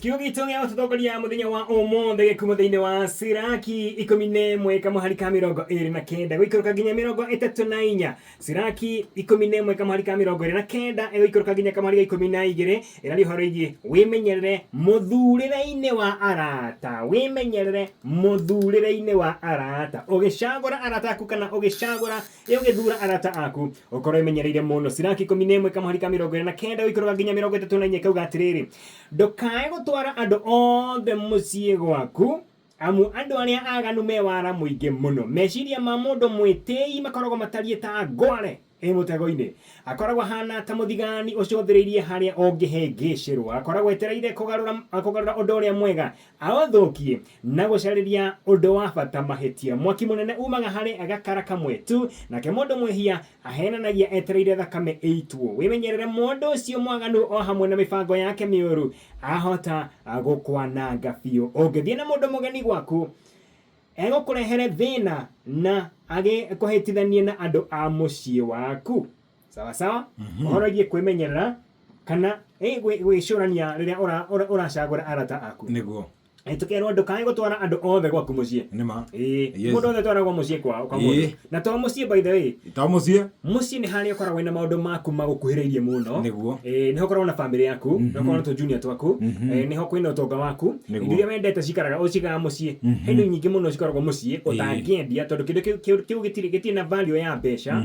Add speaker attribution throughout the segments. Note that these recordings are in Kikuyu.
Speaker 1: Kiugo gitũ gĩa gũtũtongoria mũthenya wa ũmũthĩ gĩkuma thĩinĩ wa Siraki ikũmi na ĩmwe kamũhari ka mĩrongo ĩrĩ na kenda gũikũrũka nginya mĩrongo ĩtatũ na inya Siraki ikũmi na ĩmwe kamũhari ka mĩrongo ĩrĩ na kenda ĩgũikũrũka nginya kamũhari ga ikũmi na igĩrĩ ĩraria ũhoro igiĩ wĩmenyerere mũthurĩre-inĩ wa arata wĩmenyerere mũthurĩre-inĩ wa arata ũgĩcagũra arata aku kana ũgĩcagũra Rĩu gĩthuura arata aku, ũkorwo ĩmenyereire mũno. Siraki ikũmi na ĩmwe kamũhari ka mĩrongo ĩrĩ na kenda gũikũrũka nginya mĩrongo ĩtatũ na inya ikauga atĩrĩrĩ, ndũkae gũtwara andũ othe mũciĩ gwaku, amu andũ arĩa aganu me wara mũingĩ mũno. Meciria ma mũndũ mwĩtĩĩi makoragwo matariĩ ta ngware ĩ mũtego-inĩ. Akoragwo ahaana ta mũthigani ũcũthĩrĩirie harĩa ũngĩhĩngĩcĩrwo. Akoragwo etereire kũgarũra ũndũ ũrĩa mwega Aũthũkie na gũcarĩria ũndũ wa bata mahĩtia. Mwaki mũnene uumaga harĩ gakara kamwe tu. Nake mũndũ mwĩhia aheenanagia etereire thakame ĩitwo. Wĩmenyerere mũndũ ũcio mwaganu o hamwe na mĩbango yake mĩũru. Ahota gũkwananga biũ. Ũngĩthiĩ na mũndũ mũgeni gwaku, egũkũrehere thĩna na agĩkũhĩtithanie na andũ a mũciĩ waku. sawa sawa ũhoragie kwĩmenyerera kana eh, gwĩ- gwĩcũrania rĩrĩa ũra- ũra- ũracagũra arata aku nĩguo Eh, tũkerwo ndũkae gũtwara andũ othe gwaku mũciĩ nĩma Ĩĩ, Yes. mũndũ othe twaragwo mũciĩ kwao Ĩĩ. kamũndũ na to mũciĩ by the way ta mũciĩ mũciĩ nĩ harĩa ũkoragwo na maũndũ maku magũkuhĩrĩirie mũno Nĩguo. Eh, nĩho ũkoragwo na bamĩrĩ yaku nĩho ũkoragwo na tũjunia twaku Eh, nĩho kwĩna ũtonga waku Nĩguo. indo iria wendete cikaraga ũcigaga mũciĩ he indo nyingĩ mũno cikoragwo mũciĩ ũtangĩendia tondũ kĩndũ kĩu- kĩu kĩu gĩtirĩ gĩtirĩ na value ya mbeca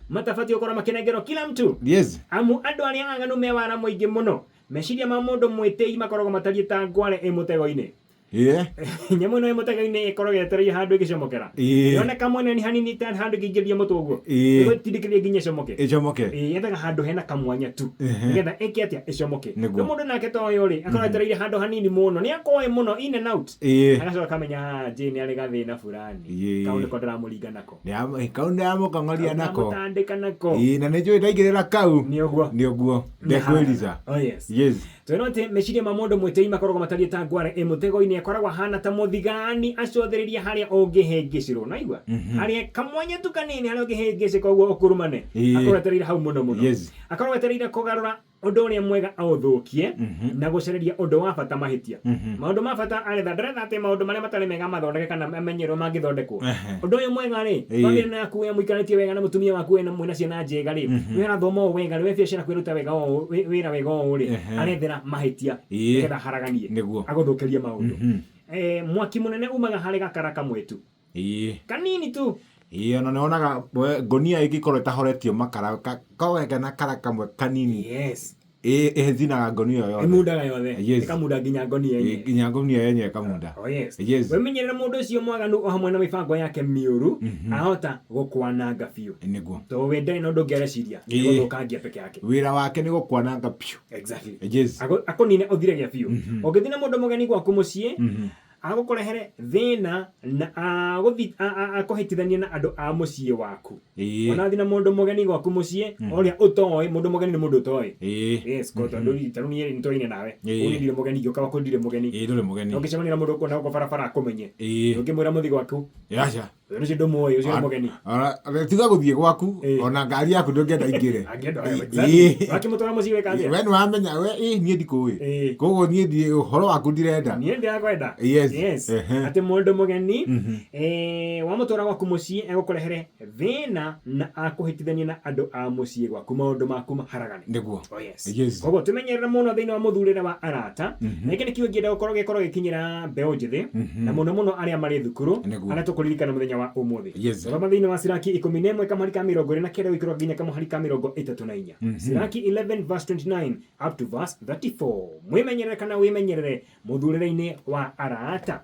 Speaker 1: Matabatiĩ gũkorwo makĩnengerwo kila mtu Yes. amu andũ arĩa aganu me wara mũingĩ mũno meciria ma mũndũ mwĩtĩi makoragwo matariĩ ta ngware ĩ mũtego-inĩ Yeah. nyamũ ĩno ĩ mũtego-inĩ ĩkoragwo yetereire handũ ĩgĩcomokera Ĩĩ. yoneka mwena nĩ hanini ta handũ ĩngĩingĩria mũtwe ũguo Ĩĩ. ĩgũtindĩkĩrĩria nginya ĩcomoke Ĩcomoke. Ĩĩ, yethaga handũ hena kamwanya tu Ehe. nĩgetha ĩke atĩa ĩcomoke Nĩguo. rĩu mũndũ nake ta ũyũ rĩ akorwo etereire handũ hanini mũno nĩ akoĩ mũno in and out Ĩĩ. agacoka akamenya "Ah, Jane arĩ gathĩna fulani Ĩĩ. kau nĩko ndĩramũringa nako Nĩamu- kau ndamũkong'oria nako Ndamũtandĩka nako Ĩĩ, na nĩ njũĩ ndaingĩrĩra kau nĩ ũguo nĩ ũguo ndekwĩriza Oh, yes. yes twĩrwo atĩ meciria ma mũndũ mwĩtĩi makoragwo matariĩ ta ngware ĩ mũtego-inĩ akoragwo ahana ta mũthigani acũthĩrĩria harĩa ũngĩhĩngĩcirwo naigua harĩa kamwanya tu kanini harĩa ũngĩhĩngĩcĩka ũguo ũkurumane Ĩĩ. akorwo etereire hau mũno mũno Yes. akorwo etereire kũgarũra ũndũ ũrĩa mwega aũthũkie Mhm. na gũcareria ũndũ wa bata mahĩtia Mhm. maũndũ ma bata aretha ndaretha atĩ maũndũ marĩa matarĩ mega mathondeke kana amenye ũrĩa mangĩthondekwo Ehe. ũndũ ũyũ mwega rĩ Ĩĩ. bamĩrĩ ĩno yaku wĩra mũikarĩtie wega na mũtumia waku wĩna mwĩna ciana njega rĩ Mhm. wĩra thoma ũũ wega rĩ we biacara kwĩruta wega ũũ wĩ- wĩra wega ũũ rĩ Ehe. arethera mahĩtia Ĩĩ. nĩgetha haraganie Nĩguo. agũthũkĩrie maũndũ Mhm. Eh, mwaki mũnene umaga harĩ gakara kamwe tu Ĩĩ. Kanini tu. Ĩĩ ona nĩwonaga we ngonia ĩngĩkorwo ĩtahoretio makara ka- kawega na kara kamwe kanini Yes. ĩ- ĩthinaga ngonia ĩyo yothe Ĩmundaga yothe. Yes. Ĩkamunda nginya ngonia Ĩ- yenyewe. nginya ngonia yenyewe ĩkamunda Oh yes. Yes. Wĩmenyerere mũndũ ũcio mwaganu o hamwe na mĩbango yake mĩũru ahota gũkwananga biũ. nĩguo Tondũ we ndarĩ na ũndũ ũngĩ areciria nĩ Ĩĩ. gũthũkangia peke yake. wĩra wake nĩ gũkwananga biũ Exactly. Yes. Akũ- akũnine ũthire gĩa biũ ũngĩthina mũndũ mũgeni gwaku mũciĩ Agũkũrehere thĩna na agũthi- a- a- akũhĩtithanie na andũ a mũciĩ waku Ĩĩ. onathi na mũndũ mũgeni gwaku mũciĩ ũrĩa ũtoĩ mũndũ mũgeni nĩ mũndũ ũtoĩ Ĩĩ. yes ko tondũ rĩ- tarĩu niĩ rĩ nĩtwaine nawe Ĩĩ. ũguo niĩ ndirĩ mũgeni ingĩũka gwaku ndirĩ mũgeni Ĩĩ ndũrĩ mũgeni. na ũngĩcemania na mũndũ ũkona gũkũ barabara akũmenye Ĩĩ. ndũngĩmwĩra mũthi gwaku Aca. Ũyũ nĩcio ndũmũĩ, ũcio nĩ mũgeni. Ona- ona- tiga gũthiĩ gwaku Eh. ona ngari yaku ndũngĩenda ingĩre Angĩenda oya we. Eh. Exactly. Wakĩmũtwara mũciĩ weka atĩa? we nĩwamenya we ĩ niĩ ndikũĩ Eh. koguo niĩ ndi- ũhoro waku ndirenda niä ndä akwenda Yes. Ehe. atä må ndå må geni wamå twara gwaku må ciä egå kå rehere thä na na akå hä tithanie na andå a må ciä gwaku maå ndå maku maharagane nĩguo Yes. koguo tũmenyerere mũno thĩinĩ wa mũthurĩre wa arata Mhm. na gĩkĩ nĩ kiugo kĩenda gũkorwo gĩkorwo gĩkinyĩra mbeũ njĩthĩ Mhm. na mũno mũno arĩa marĩ thukuru Nĩguo. arĩa tũkũririkana mũthenya wa ũmũthĩ Yes. thoma thĩinĩ wa siraki ikũmi na ĩmwe kamũhari ka mĩrongo ĩrĩ na kenda gũikĩrwo nginya kamũhari ka mĩrongo ĩtatũ na inya Mhm. siraki 11 verse 29 up to verse 34 mwĩmenyerere kana wĩmenyerere mũthurĩre-inĩ wa arata